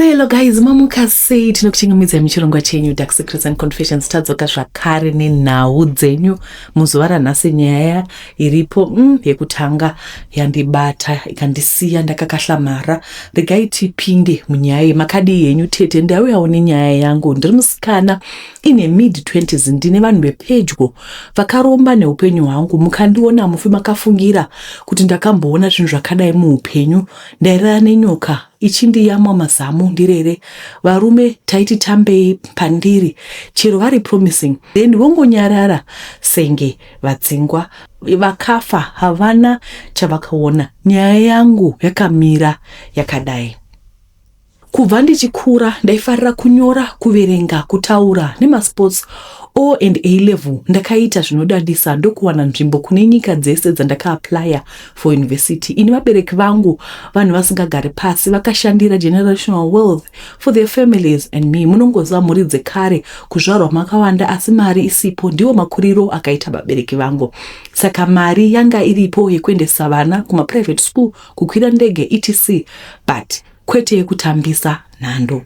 Hello guys, mamuka sei? Tinokuchingamidza muchirongwa chenyu Dark Secrets and Confessions. Tadzoka zvakare nenhau dzenyu muzuva ranhasi. Nyaya iripo mm, yekutanga yandibata ikandisiya ndakakahlamara. Regai tipinde munyaya iyi. Makadii henyu tete? Ndauyawo nenyaya yangu. Ndiri musikana ine mid 20s, ndine vanhu vepedyo vakaromba neupenyu hwangu. Mukandiona mufi makafungira kuti ndakamboona zvinhu zvakadai muupenyu. Ndairara nenyoka ichindiyamwa mazamu ndirere varume taiti tambei pandiri chero vari promising then vongonyarara senge vadzingwa vakafa havana chavakaona nyaya yangu yakamira yakadai kubva ndichikura ndaifarira kunyora kuverenga kutaura nemasports o and a level ndakaita zvinodadisa ndokuwana nzvimbo kune nyika dzese dzandakaaplaya for university ini vabereki vangu vanhu vasingagari pasi vakashandira generational wealth for their families and me munongoziva mhuri dzekare kuzvarwa makawanda asi mari isipo ndiwo makuriro akaita vabereki vangu saka mari yanga iripo yekuendesa vana kumaprivate school kukwira ndege etc but kwete yekutambisa nhando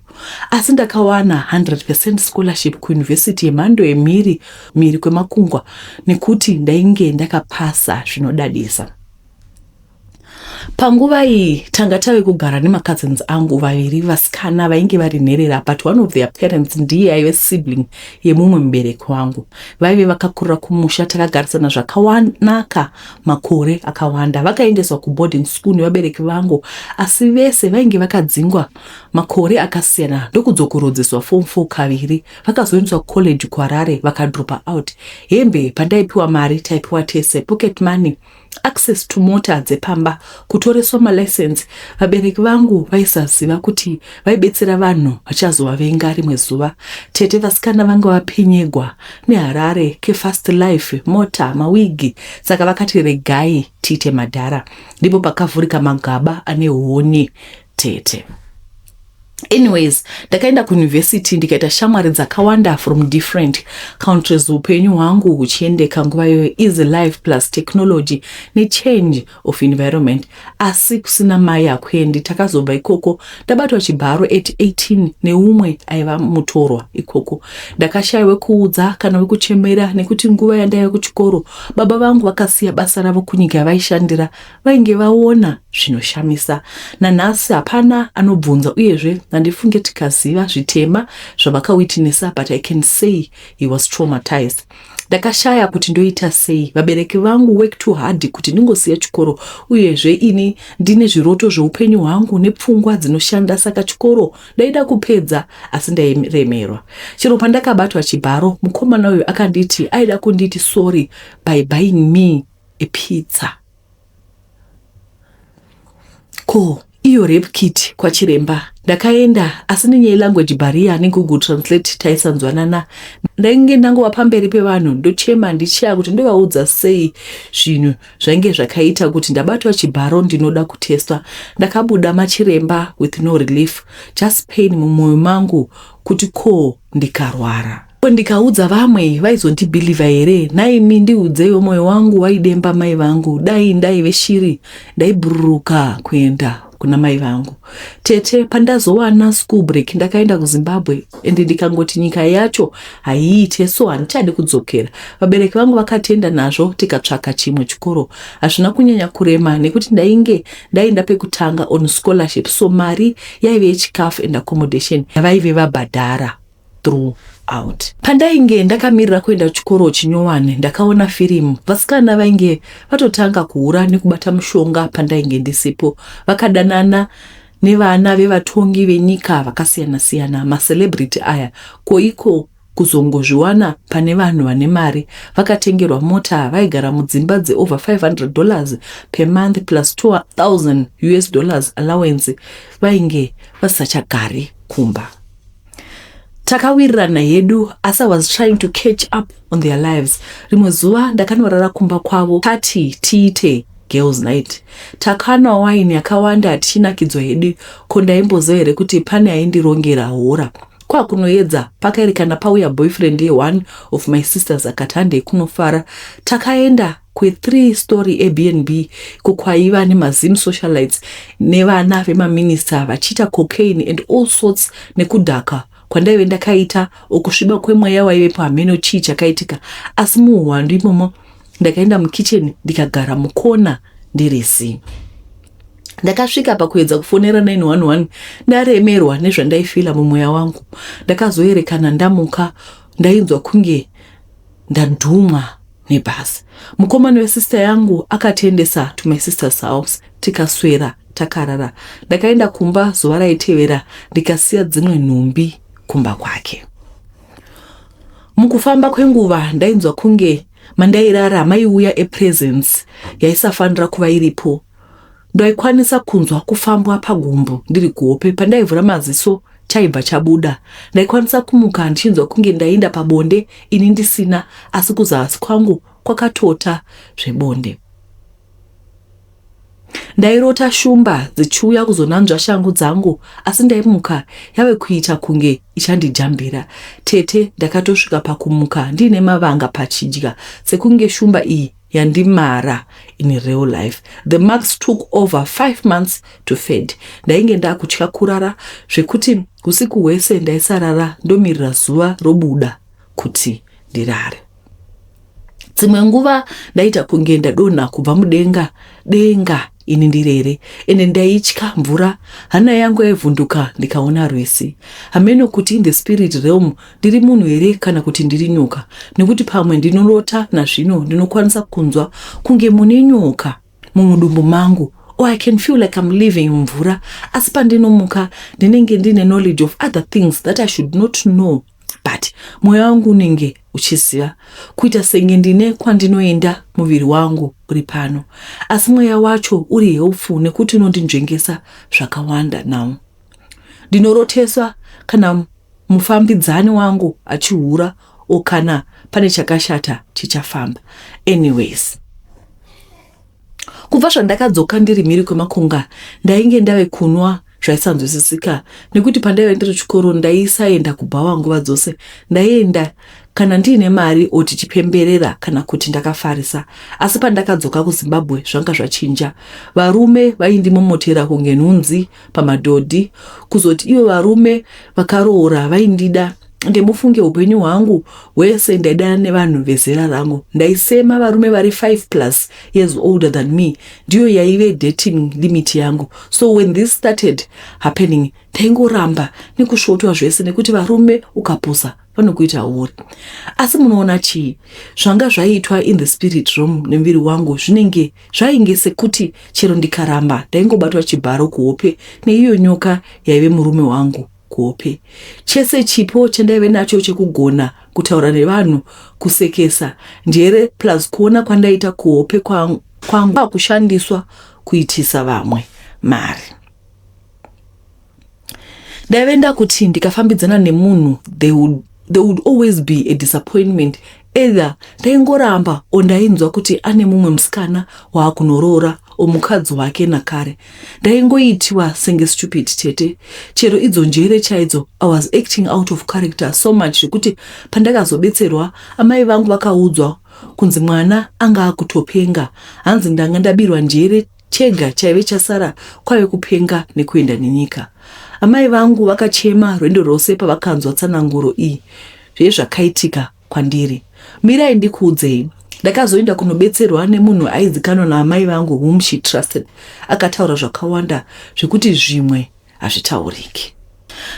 asi ndakawana 100 scholarship kuyunivhesiti yemhando yemhiri mhiri kwemakungwa nekuti ndainge ndakapasa zvinodadisa panguva iyi tanga tave kugara nemacousins angu vaviri vasikana vainge vari nherera but one of their parents ndiye aive sibling yemumwe mubereki wangu vaive vakakurira kumusha takagarisana zvakawanaka makore akawanda. Vakaendeswa kuboarding school nevabereki vangu asi vese vainge vakadzingwa makore akasiyana ndokudzokorodzeswa form 4 kaviri. Vakazoendeswa kucollege kuHarare vakadropa out. Hembe pandaipiwa mari taipiwa tese, pocket money, access to mota dzepamba Kutoreswa malicense vabereki vangu vaisaziva kuti vaibetsera vanhu vachazovavenga rimwe zuva. Tete vasikana vanga vapenyegwa neharare kefast life, mota, mawigi saka vakati regai tiite madhara. Ndipo pakavhurika magaba ane huni tete. Anyways, ndakaenda kuuniversity ndikaita shamwari dzakawanda from different countries. Hupenyu hwangu huchiendeka nguva iyoyo easy life plus technology nechange of Environment asi kusina mai hakuendi. Takazobva ikoko ndabatwa chibharo at 18 neumwe aiva mutorwa ikoko. Ndakashaya wekuudza kana wekuchemera nekuti nguva yandaiva kuchikoro baba vangu vakasiya basa ravo kunyika yavaishandira vainge vaona zvinoshamisa. Nanhasi hapana anobvunza uyezve handifunge tikaziva zvitema zvavakawitnessa but I can say he was traumatized. ndakashaya kuti ndoita sei vabereki vangu work too hard kuti ndingosiya chikoro uyezve ini ndine zviroto zveupenyu hwangu nepfungwa dzinoshanda saka chikoro ndaida kupedza asi ndairemerwa chero pandakabatwa chibharo mukomana uyu akanditi aida kunditi sorry by buying me a pizza Ko iyo rape kit kwachiremba ndakaenda asi nenyaya yelanguage barrier negoogle translate taisanzwanana ndainge ndangova pamberi pevanhu ndochema ndichaya kuti ndovaudza sei zvinhu zvainge zvakaita kuti ndabatwa chibharo ndinoda kutestwa ndakabuda machiremba with no relief just pain mumwoyo mangu kuti ko ndikarwara Ko ndikaudza vamwe vaizondibhilivha here? Nhaimi ndiudzeiwo moyo wangu waidemba mai vangu. Dai ndaive shiri ndaibhururuka kuenda kuna mai vangu. Tete pandazowana school break ndakaenda kuZimbabwe and ndikangoti nyika yacho haiite so handichadi kudzokera. Vabereki vangu vakatienda nazvo tikatsvaka chimwe chikoro. Hazvina kunyanya kurema nekuti ndainge ndaenda pekutanga on scholarship so mari yaive yechikafu and accommodation yavaive vabhadhara. throughout. Pandainge ndakamirira kuenda kuchikoro chinyowani ndakaona firimu. Vasikana vainge vatotanga kuhura nekubata mushonga pandainge ndisipo. Vakadanana nevana vevatongi venyika vakasiyana siyana macelebrity aya ko iko kuzongozviwana pane vanhu vane mari vakatengerwa mota vaigara mudzimba dze over 500 dollars per month plus 2000 us dollars allowance vainge vasisachagari kumba. takawirirana hedu asi i was trying to catch up on their lives rimwe zuva ndakanorara kumba kwavo tati tiite girls night takanwa waini yakawanda hatichinakidzwa hedu ko ndaimboziva here kuti pane aindirongera hora kwakunoedza pakaerekana pauya boyfriend ye one of my sisters akati handei kunofara takaenda kwe three story Airbnb ko kwaiva nema Zim socialites nevana vema minister vachiita cocaine and all sorts nekudhaka kwandaive ndakaita or kusviba kwemweya waivepo hameno chii chakaitika asi muhuhwandu imomo ndakaenda mukitchen ndikagara mukona ndiri zii ndakasvika pakuedza kufonera 911 ndaremerwa nezvandaifila mumweya wangu ndakazoerekana ndamuka ndainzwa kunge ndadhumwa nebus mukomana wesister yangu akatiendesa to my sister's house tikaswera takarara ndakaenda kumba zuva raitevera ndikasiya dzimwe nhumbi kumba kwake mukufamba kwenguva ndainzwa kunge mandairara maiuya epresence yaisafanira kuva iripo Ndaikwanisa kunzwa kufambwa pagumbo ndiri kuhope. Pandaivhura maziso chaibva chabuda. Ndaikwanisa kumuka ndichinzwa kunge ndainda pabonde ini ndisina asi kuzasi kwangu kwakatota zvebonde. Ndairota shumba dzichiuya kuzonanzva shangu dzangu asi ndaimuka yave kuita kunge ichandijambira. Tete ndakatosvika pakumuka ndiine mavanga pachidya sekunge shumba iyi yandimara in real life the marks took over five months to fed ndainge ndakutya kurara zvekuti usiku hwese ndaisarara ndomirira zuva robuda kuti ndirare dzimwe nguva ndaita kunge ndadonha kubva mudenga denga ini ndiri here ende ndaitya mvura hana yangu yaivhunduka ndikaona rwesi hameno kuti in the spirit realm ndiri munhu here kana kuti ndiri nyoka nekuti pamwe ndinorota nazvino ndinokwanisa kunzwa kunge mune nyoka mumudumbu mangu or oh, i can feel like im living mumvura asi pandinomuka ndinenge ndine knowledge of other things that i should not know but mwoyo wangu unenge uchiziva kuita senge ndine kwandinoenda muviri wangu uri pano asi mweya wacho uri helpful nekuti unondinzvengesa zvakawanda now ndinoroteswa kana mufambidzani wangu achihura o kana pane chakashata chichafamba anyways Kubva zvandakadzoka ndiri mhiri kwemakunga ndainge ndave kunwa zvaisanzwisisika nekuti pandaive ndiri chikoro ndaisaenda kubhawa nguva dzose ndaienda kana ndiine mari o tichipemberera kana kuti ndakafarisa asi pandakadzoka kuzimbabwe zvanga zvachinja varume vaindimomotera kunge nhunzi pamadhodhi kuzoti ivo varume vakaroora vaindida ende mufunge upenyu hwangu hwese ndaidana nevanhu vezera rangu ndaisema varume vari 5 plus years older than me ndiyo yaive dating limit yangu so when this started happening taingoramba nekusvotwa zvese nekuti varume ukapusa vanokuita huri asi munoona chii zvanga zvaitwa in the spirit room nemuviri wangu zvinenge Zvainge sekuti chero ndikaramba ndaingobatwa chibharo kuhope neiyo nyoka yaive murume wangu kuhope. Chese chipo chandaive nacho chekugona kutaura nevanhu, kusekesa, njere plus kuona kwandaita kuhope kwangu kwakushandiswa kuitisa vamwe mari. ndaive ndakuti ndikafambidzana nemunhu they would, they would always be a disappointment either ndaingoramba o ndainzwa kuti ane mumwe musikana waakunoroora omukadzi wake nakare ndaingoitiwa senge stupid tete chero idzo njere chaidzo i was acting out of character so much zvekuti pandakazobetserwa amai vangu vakaudzwa kunzi mwana anga akutopenga hanzi ndanga ndabirwa njere Chega chaive chasara kwave kupenga nekuenda nenyika. Amai vangu vakachema rwendo rwose pavakanzwa tsananguro iyi yezvakaitika kwandiri. Mirai ndikuudzei. Ndakazoenda kunobetserwa nemunhu aizikanwa naamai vangu whom she trusted. Akataura zvakawanda zvekuti zvimwe hazvitauriki.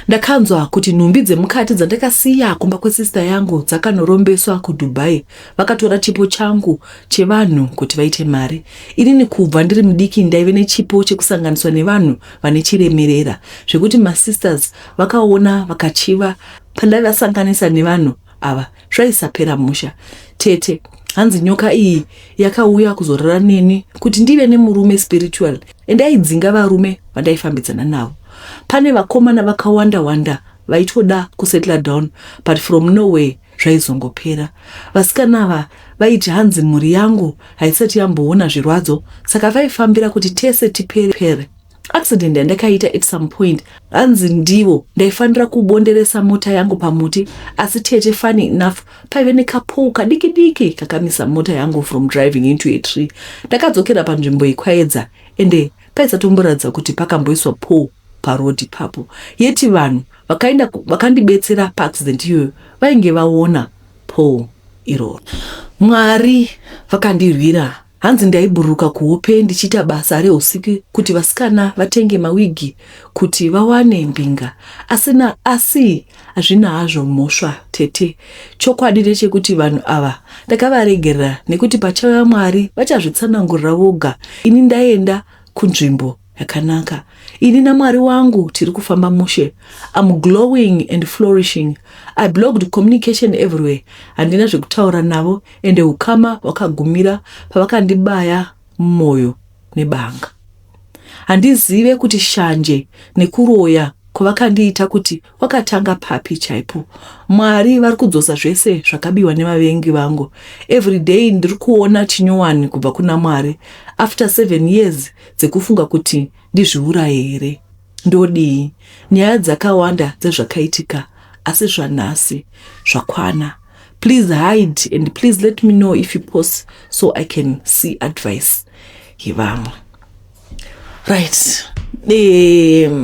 Ndakanzwa kuti nhumbi dzemukati dzandakasiya kumba kwesista yangu dzakanorombeswa kuDubai. Vakatora chipo changu chevanhu kuti vaite mari. Inini kubva ndiri mudiki ndaive nechipo chekusanganiswa nevanhu vane chiremerera zvekuti masisters vakaona vakachiva pandaivasanganisa nevanhu ava. zvaisapera musha tete hanzi nyoka iyi yakauya kuzorara neni kuti ndive nemurume spiritual ende aidzinga varume vandaifambidzana navo pane vakomana vakawanda wanda vaitoda kusettle down but from nowhere zvaizongopera vasikana ava vaiti hanzi mhuri yangu haisati yamboona zvirwadzo saka vaifambira kuti tese tipere pere Accident yandakaita at some point hanzi ndivo ndaifanira kubonderesa mota yangu pamuti asi tete funny enough paive nekapoo kadiki diki kakamisa mota yangu from driving into a tree. Ndakadzokera panzvimbo iyi kwaedza ende paisatomboratidza kuti pakamboiswa poo paroad ipapo yeti vanhu vakaenda vakandibetsera paaccident iyoyo vainge vaona poo iroro. Mwari vakandirwira Hanzi ndaibhururuka kuhope ndichiita basa rehusiku kuti vasikana vatenge mawigi kuti vawane mbinga asi na asi hazvina hazvo mhosva tete. Chokwadi ndechekuti vanhu ava ndakavaregerera nekuti pachauya Mwari vachazvitsanangurira voga ini ndaenda kunzvimbo yakanaka ini namwari wangu tiri kufamba mushe am glowing and flourishing i blogged communication everywhere handina zvekutaura navo ende ukama hwakagumira pavakandibaya mumwoyo nebanga handizive kuti shanje nekuroya kwavakandiita kuti Wakatanga papi chaipo? Mwari vari kudzosa zvese zvakabiwa nevavengi vangu. Every day ndiri kuona chinyowani kubva kuna Mwari after seven years dzekufunga kuti ndizviuraye here. Ndodii? Nyaya dzakawanda dzezvakaitika asi zvanhasi zvakwana. Please hide and please let me know if you post so I can see advice yevamwe. right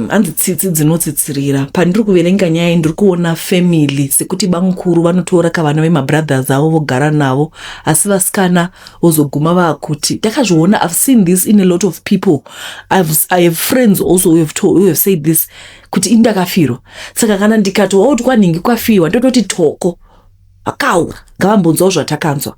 hanzi tsitsi dzinotsitsirira pandiri kuverenga nyaya iyi ndiri kuona family sekuti bamukuru vanotora kavana vemabrothers avo vogara navo asi vasikana vozoguma vaakuti ndakazviona i've seen this in a lot of people I've, i have friends also who have, told, who have said this kuti ini ndakafirwa saka kana ndikati waoti kwanhingi kwafirwa ndototi toko vakaura ngavambonzwawo zvatakanzwa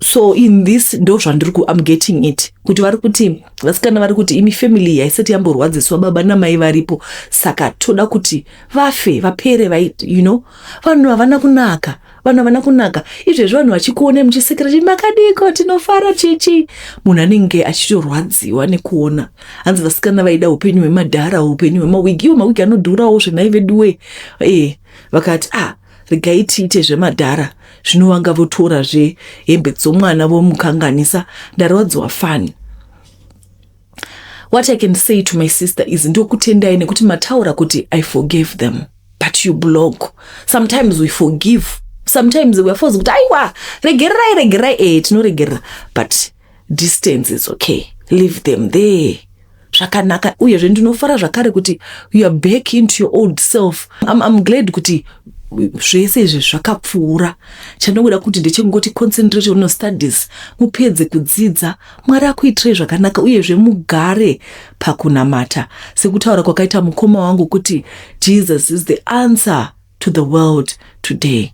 so in this ndo zvandiri ku am getting it kuti vari kuti vasikana vari kuti imi family yaisati yamborwadziswa baba namai varipo saka toda kuti vafe vapere vai you know vanhu havana kunaka vanhu havana kunaka izvezvi vanhu vachikuonai muchisekera chii makadiko tinofara chichi munhu anenge achitorwadziwa nekuona hanzi vasikana vaida upenyu hwemadhara upenyu hwemawigi iwo mawigi anodhurawo zvenai veduwe e eh, vakati ah Regai tiite zvemadhara zvino vanga votora zve hembe dzomwana vomukanganisa ndarwadziwa fani. What I can say to my sister is ndokutendai nekuti mataura kuti I forgave them but you block sometimes we forgive sometimes we are forced kuti aiwa regererai regererai eh tinoregerera but distance is okay leave them there zvakanaka uyezve ndinofara zvakare kuti you are back into your old self I'm, I'm glad kuti zvese izvi zvakapfuura chandokuda kuti ndechekungoti concentrate on studies mupedze kudzidza mwari akuitirei zvakanaka uyezve mugare pakunamata sekutaura kwakaita mukoma wangu kuti jesus is the answer to the world today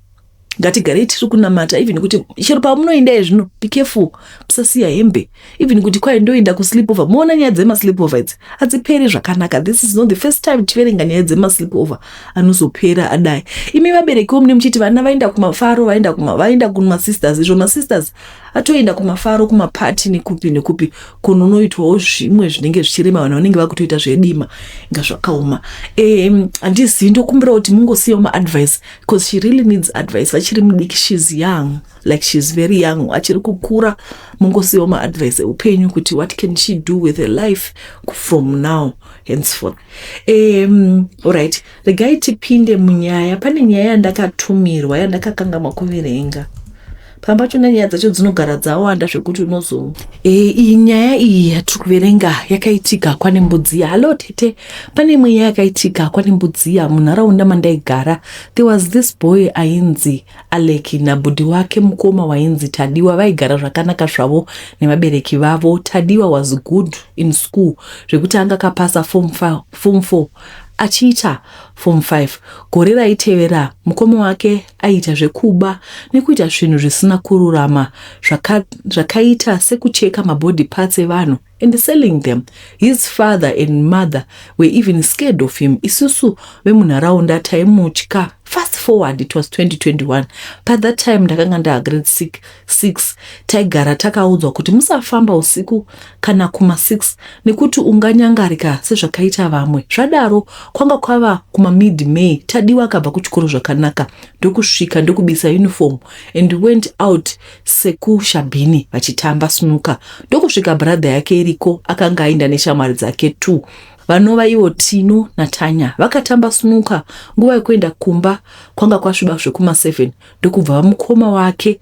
ngatigarei tiri kunamata even kuti chero pamunoenda izvino be careful musasiya hembe even kuti kwai ndoenda kusleep over moona nyaya dzemasleep over idzi hadziperi zvakanaka this is not the first time tiverenga nyaya dzemasleep over anozopera adai imi vaberekiwo mune muchiti vana vaenda kumafaro vaenda kuma vaenda kumasisters izvo masisters atoenda kumafaro kumapati nekupi nekupi kunonoitwawo zvimwe zvinenge zvichirema vanhu vanenge vakutoita zvedima inga zvakaoma handizivi um, ndokumbira kuti mungosiyawo maadvice bcause she really needs advice vachiri mudiki shes young like shes very young achiri kukura mungosiyawo maadvice eupenyu kuti what can she do with her life from now henceforth um, allright right. Regai tipinde munyaya. Pane nyaya yandakatumirwa yandakakangamwa kuverenga. Pamba pacho nyaya dzacho dzinogara dzawanda zvekuti unozo e, iyi nyaya iyi yatiri kuverenga yakaitika kwane mbudziya. Halo tete, pane imwe nyaya yakaitika kwane mbudziya munharaunda mandaigara. There was this boy ainzi Aleki nabhudhi wake mukoma wainzi Tadiwa vaigara zvakanaka zvavo nevabereki vavo. Tadiwa was good in school zvekuti anga kapasa form 4 Achiita Form Five gore raitevera, mukoma wake aiita zvekuba nekuita zvinhu zvisina kururama zvaka, zvakaita sekucheka mabody parts evanhu and selling them. His father and mother were even scared of him. Isusu vemunharaunda taimutya. Fast forward, it was 2021. By that time ndakanga ndava grade six. 6 taigara takaudzwa kuti musafamba usiku kana kuma 6 nekuti unganyangarika sezvakaita vamwe zvadaro kwanga kwava kuma mid may tadiwa akabva kuchikoro zvakanaka ndokusvika ndokubisa uniform and went out sekushabhini vachitamba snuka ndokusvika brother yake iriko akanga ainda neshamwari dzake two vanova ivo tino natanya vakatamba snuka nguva yekuenda kumba kwanga kwasviba zvekuma 7 ndokubva vamukoma wake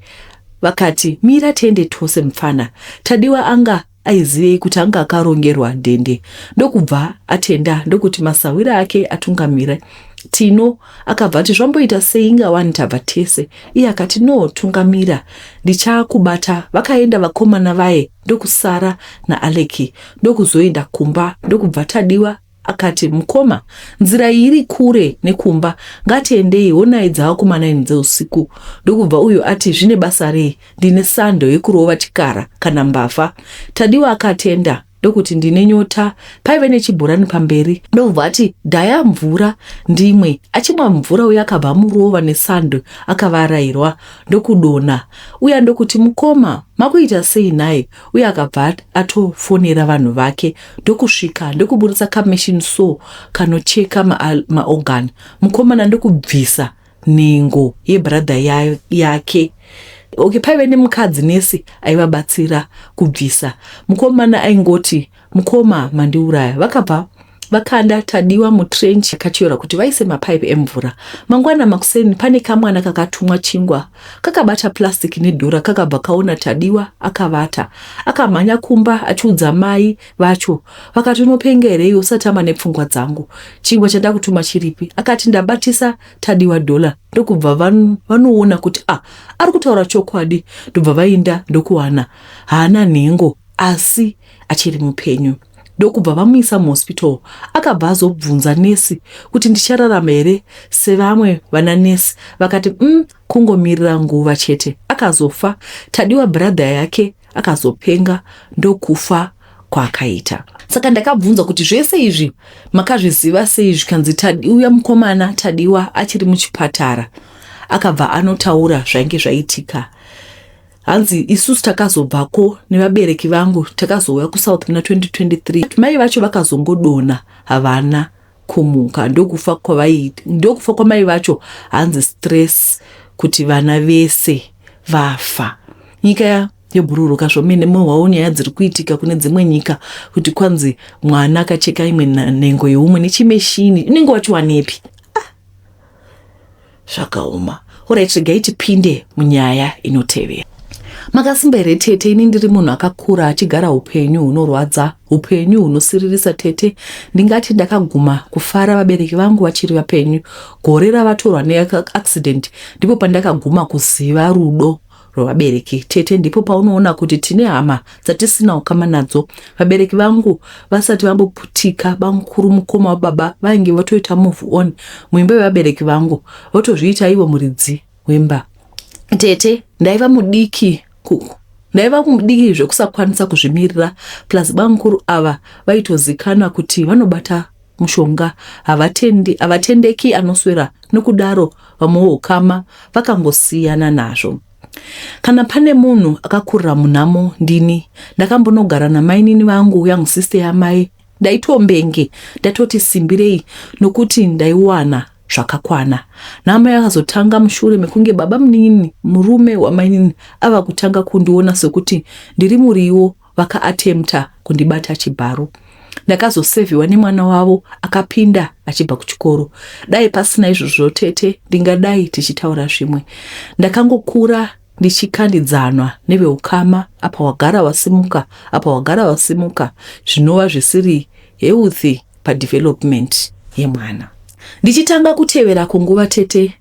vakati mira tiende tose mupfana tadiwa anga aizivei kuti anga akarongerwa dhende ndokubva atenda ndokuti masahwira ake atungamire tino akabva ati zvamboita sei inga wani tabva tese iye akati no tungamira ndichakubata vakaenda vakomana vaye ndokusara naaleki ndokuzoenda kumba ndokubva tadiwa Akati, Mukoma, nzira iyi iri kure nekumba, ngatiendei, honai dzava kuma naini dzeusiku. Ndokubva uyu ati, Zvine basa rei? Ndine sando yekurova chikara kana mbavha. Tadiwa akatenda ndokuti, Ndine nyota. Paive nechibhorani pamberi. Ndokubva ati, Daya mvura ndimwe. Achimwa mvura uya akabva amurova nesando akavarairwa ndokudonha. Uya ndokuti, Mukoma, makuita sei nhai? uye akabva atofonera vanhu vake ndokusvika ndokuburitsa kamachine so kanocheka maorgan ma mukomana ndokubvisa nhengo yebradha ya, yake okay paive nemukadzi nesi aivabatsira kubvisa mukomana aingoti Mukoma mandiuraya vakabva vakanda Tadiwa mutrench yakatyorwa kuti vaise mapipe emvura. Mangwana makuseni pane kamwana kakatumwa chingwa kakabata plastic nedhora kakabva kaona Tadiwa akavata. Akamhanya kumba achiudza mai vacho vakati unopenga here iwe usatama nepfungwa dzangu. Chingwa chandakutuma chiripi? Akati ndabatisa Tadiwa dollar ndokubva van, vanoona kuti ah ari kutaura chokwadi ndobva vainda ndokuwana haana nhengo asi achiri mupenyu ndokubva vamuisa muhospital akabva azobvunza nesi kuti ndichararama here sevamwe vana nesi vakati um kungomirira nguva chete akazofa tadiwa bradha yake akazopenga ndokufa kwaakaita saka ndakabvunza kuti zvese izvi makazviziva sei zvikanzi tadiwa mukomana tadiwa achiri muchipatara akabva anotaura zvainge zvaitika hanzi isusu takazobvako nevabereki vangu takazouya kusouth muna 2023 mai vacho vakazongodona havana kumuka ndokufa kwavaiita ndokufa kwamai vacho hanzi stress kuti vana vese vafa nyika yobhururuka zvomene mohwawo nyaya dziri kuitika kune dzimwe nyika kuti kwanzi mwana akacheka imwe nhengo yeumwe nechimeshini inenge wachiwanepi Zvakaoma. Alright, regai tipinde munyaya inotevera. Makasimba here tete? Ini ndiri munhu akakura achigara upenyu hunorwadza, upenyu hunosiririsa tete. Ndingati ndakaguma kufara vabereki vangu vachiri vapenyu. Gore ravatorwa neaccident ndipo pandakaguma kuziva rudo rwevabereki tete ndipo paunoona kuti tine hama dzatisina ukama nadzo vabereki vangu vasati vamboputika bamukuru mukoma wababa vainge votoita move on muimba yevabereki vangu votozviita ivo muridzi wemba tete ndaiva mudiki kuku ndaiva mudiki zvekusakwanisa kuzvimirira plus bamukuru ava vaitozikanwa kuti vanobata mushonga havatendi havatendeki anoswera nokudaro vamwe vohukama vakangosiyana nazvo kana pane munhu akakurira munhamo ndini ndakambonogara namainini vangu young sister yamai ndaitombenge ndatoti simbirei nokuti ndaiwana zvakakwana nhama yakazotanga mushure mekunge baba munini murume wamainini ava kutanga kundiona sokuti ndiri muriwo vaka attempter kundibata chibharo. Ndakazoseviwa nemwana wavo akapinda achibva kuchikoro. Dai pasina izvozvo tete ndingadai tichitaura zvimwe. Ndakangokura ndichikandidzanwa neveukama apa wagara wasimuka apa wagara wasimuka zvinova zvisiri healthy padevelopment yemwana. Ndichitanga kutevera kunguva tete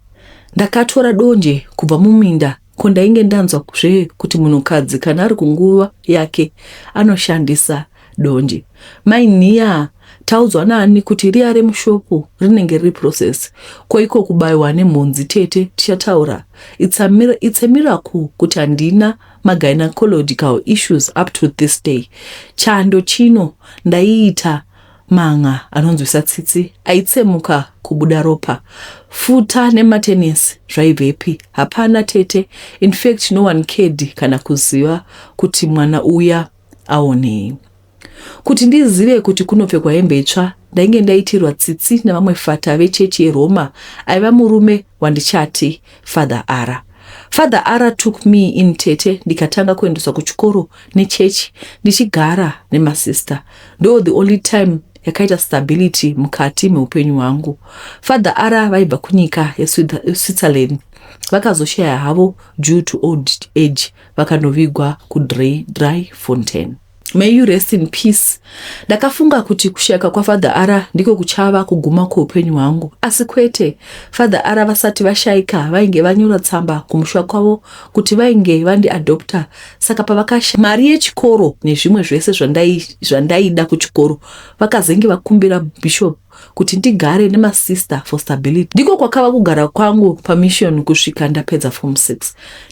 ndakatora donje kubva muminda Ko ndainge ndanzwa zve kuti munhukadzi kana ari kunguva yake anoshandisa donje. Mai Nhiyaa taudzwa naani kuti riya remushopu rinenge riri process ko iko kubaiwa nemhunzi tete tichataura it's a, mir it's a miracle kuti handina magynecological issues up to this day chando chino ndaiita Manga anonzwisa tsitsi aitsemuka kubuda ropa. Futa nematenesi zvaibvepi? Hapana tete, in fact no one cared kana kuziva kuti mwana uya aonei. Kuti ndizive kuti kunopfekwa hembe itsva ndainge ndaitirwa tsitsi nevamwe fata vechechi yeRoma aiva murume wandichati Father Ara. Father Ara took me in tete ndikatanga kuendeswa kuchikoro nechechi ndichigara nemasister ndo the only time yakaita stability mukati meupenyu hwangu. Father Ara vaibva kunyika yeSwitzerland vakazoshaya havo due to old age vakanovigwa kuDry Fontaine. May you rest in peace. Ndakafunga kuti kushayika kwaFather Ara ndiko kuchava kuguma kweupenyu hwangu. Asi kwete, Father Ara vasati vashayika vainge vanyora tsamba kumusha kwavo kuti vainge vandiadopta saka pavakashaya mari yechikoro nezvimwe zvese zvandaida kuchikoro vakazenge vakumbira Bishop kuti ndigare nemasister for stability. Ndiko kwakava kugara kwangu pamission kusvika ndapedza form 6.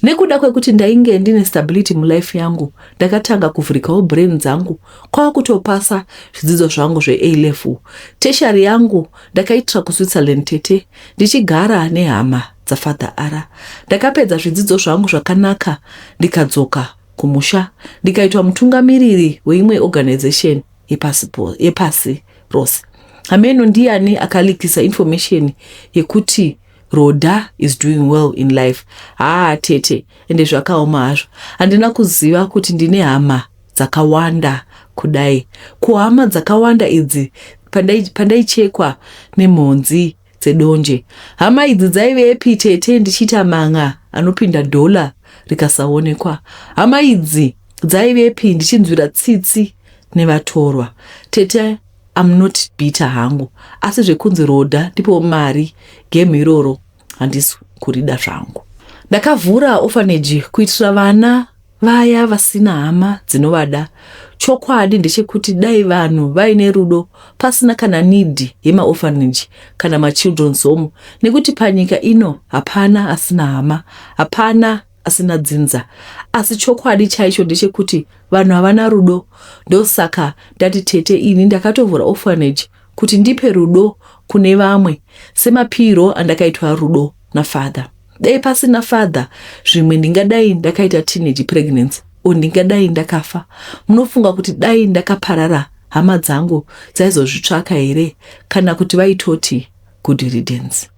Nekuda kwekuti ndainge ndine stability mulife yangu, ndakatanga kuvhurikawo brain dzangu kwava kutopasa zvidzidzo zvangu zveA level. Tertiary yangu ndakaitira kuSwitzerland tete ndichigara nehama dzafather Ara. Ndakapedza zvidzidzo zvangu zvakanaka ndikadzoka kumusha ndikaitwa mutungamiriri weimwe organization. yepasi, po, yepasi rose. Hameno ndiyani akalikisa information yekuti Rhoda is doing well in life. Haa tete, ende zvakaoma hazvo. Handina kuziva kuti ndine hama dzakawanda kudai. Kuhama dzakawanda idzi pandaichekwa pandai nemhonzi dzedonje. Hama idzi dzaive epi tete ndichiita man'a anopinda dollar rikasaonekwa. Hama idzi dzaive epi ndichinzwira tsitsi nevatorwa. Tete I'm not bitter hangu asi zvekunzi roda ndipo mari game iroro handisi kurida zvangu. Ndakavhura orphanage kuitira vana vaya vasina hama dzinovada. Chokwadi ndechekuti dai vanhu vaine rudo pasina kana need yemaorphanage kana machildren's home nekuti panyika ino hapana asina hama, hapana asina dzinza. Asi chokwadi chaicho ndechekuti vanhu havana rudo ndosaka ndati tete ini ndakatovhura orphanage kuti ndipe rudo kune vamwe semapiirwo andakaitwa rudo nafather. dai pasina father zvimwe ndingadai ndakaita teenage pregnancy o ndingadai ndakafa munofunga kuti dai ndakaparara hama dzangu dzaizozvitsvaka here kana kuti vaitoti good riddance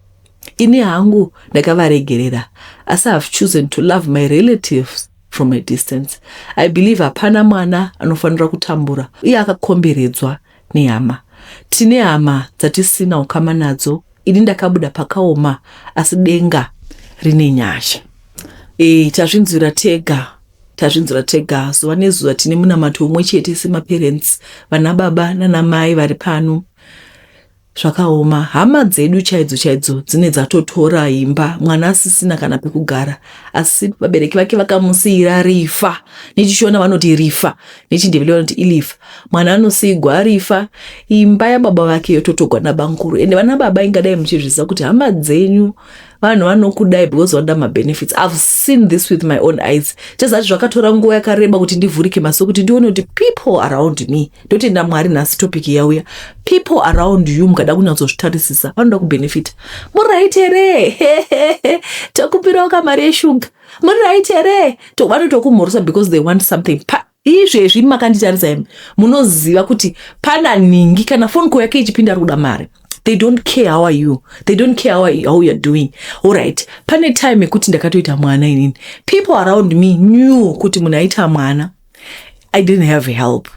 ini hangu ndakavaregerera asi have chosen to love my relatives from a distance i believe hapana mwana anofanira kutambura uye akakomberedzwa nehama. Tine hama dzatisina ukama nadzo ini ndakabuda pakaoma asi denga rine nyasha. E, tazvinzwira tega tazvinzwira tega zuva nezuva tine munamato umwe chete semaparents vana baba nana mai vari pano Zvakaoma hama dzedu chaidzo chaidzo dzine dzatotora imba mwana asisina kana pekugara asi vabereki vake vakamusiira rifa nechishona vanoti rifa nechindevele vanoti ilifa mwana anosiigwa arifa imba yababa vake yototogwa nabamkuru ende vana baba ingadai muchizviziva kuti hama dzenyu vanhu vanokudai because vanoda mabenefits ihave seen this with my own eyes chezati zvakatora nguva yakareba kuti ndivhurike maso kuti ndione kuti people around me ndotenda mwari nhasi topic yauya people around you mukada kunyatsozvitarisisa vanoda kubenefita muri right here tokupirawo kamari yeshuga muri right here vanotokumhoresa because they want something pa izvezvi makanditarisa imi munoziva kuti pana nhingi kana phone call yake ichipinda ari kuda mari they don't care how are you they don't care how, you, how you're doing allright pane time yekuti ndakatoita mwana inini people around me knew kuti munhu aita mwana i didn't have help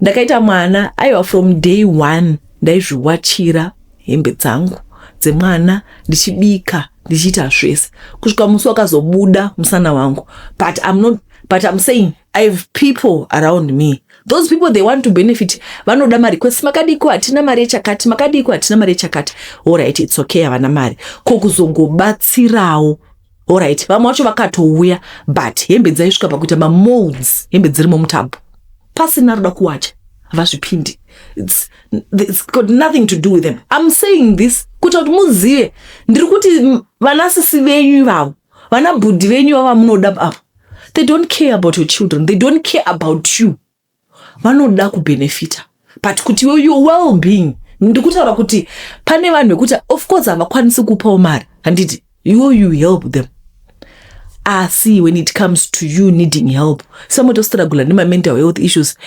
ndakaita mwana aiwa from day one ndaizviwachira hembe dzangu dzemwana ndichibika ndichiita zvese kusvika musi wakazobuda musana wangu but im not but i'm saying i have people around me those people they want to benefit vanoda mari kwesi makadiko hatina mari yechakati makadiko hatina mari yechakati orit its okay havana mari ko kuzongobatsirawo orit vamwe vacho vakatouya but hembe dzaisvika pakuita mamolds hembe dzirimo mutambo pasina roda kuwacha havazvipindi it's, it's got nothing to do with them i'm saying this kuita kuti muzive ndiri kuti vanasisi venyu ivavo vana bhudhi venyu vavamunoda ava they don't care about your children they don't care about you vanoda kubenefita but kuti your well being ndikutaura kuti pane vanhu vekuti of course havakwanisi kupawo mari handiti you you help them asi when it comes to you needing help some otostiragula nemamental health issues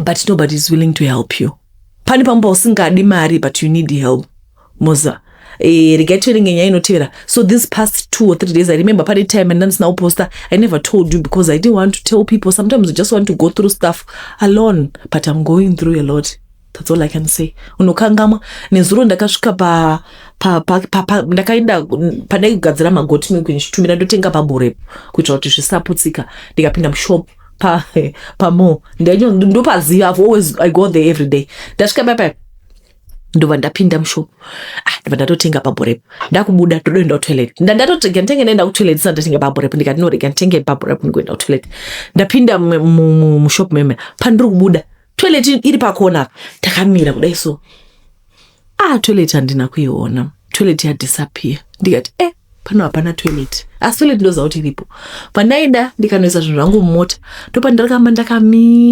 but nobody is willing to help you pane pamwe pausingadi mari but you need help moza eh, regai tiverenge nyaya inotevera so this past two or three days i remember pane time andandisina kuposta i never told you because i didn't want to tell people sometimes you just want to go through stuff alone but i'm going through a lot That's all I can say. Unokangamwa. Nezuro ndakasvika pa, pa, pa, pa, pa ndakaenda padai kugadzira magoti milk ndichitumira ndotenga paburepo kuitira kuti zvisaputsika ndikapinda mushop pa pa mo ndopaziva I've always I go there every day. Ndasvika papa ndobva ndapinda mushop ah, ndobva ndatotenga paburepo ndakubuda todoenda kutoilet ndandatotega nditenge ndaenda kutoilet ndisati ndatenga paburepo ndikati norega nditenge paburepo ndikuenda kutoilet ndapinda mushop meme pandiri kubuda toilet iri pakona apa takamira kudai so ah toilet handina kuiona toilet yadisappear ndikati eh pano hapana toilet asi toilet ndoziva kuti iripo pandaida ndikanoisa zvinhu zvangu mumota ndopandarakamba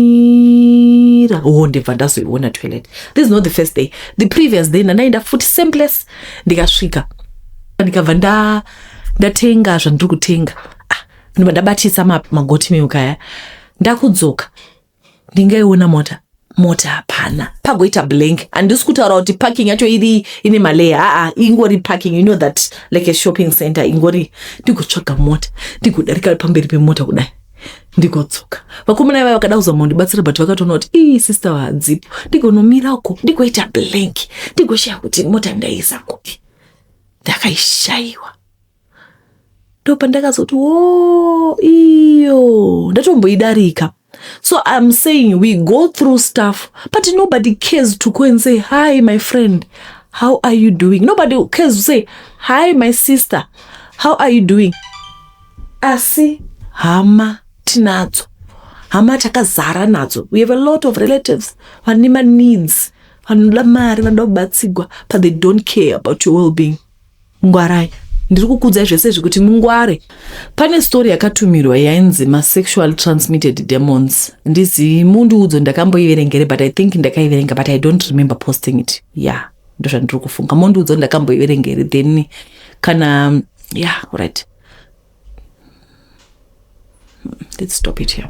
ndakamira o ndibva ndazoiona toilet this is not the first day the previous day ndandaenda futi same place ndikasvika ndikabva nda ndatenga zvandiri kutenga ah, ndobva ndabatisa ma- magoti milk aya ndakudzoka ndingaiona mota mota hapana pagoita blank handisi kutaura kuti parking yacho iri ine maleya aa ingori parking you know that like a shopping center ingori ndigotsvaga mota ndigodarika pamberi pemota kudai ndigodzoka vakomana ivai vakada kuzama kundibatsira but vakatoona kuti ii sister hadzipo ndigonomira uko ndigoita blank ndigoshaya kuti mota ndaisa kupi ndakaishaiwa ndopandakazoti wo iyo ndatomboidarika so iam saying we go through stuff but nobody cares to go and say hi my friend how are you doing nobody cares to say hi my sister how are you doing asi hama tinadzo hama takazara nadzo we have a lot of relatives vane maneeds vanoda mari vanoda kubatsigwa but they don't care about your well being ngwarai ndiri kukudzai zvese zvekuti mungware pane story yakatumirwa yainzi masexual transmitted demons ndizi mundiudzo ndakamboiverengere but i think ndakaiverenga but i don't remember posting it ya yeah, ndozvandiri kufunga mondiudzo ndakamboiverengere then kana ya yeah, right let's stop it here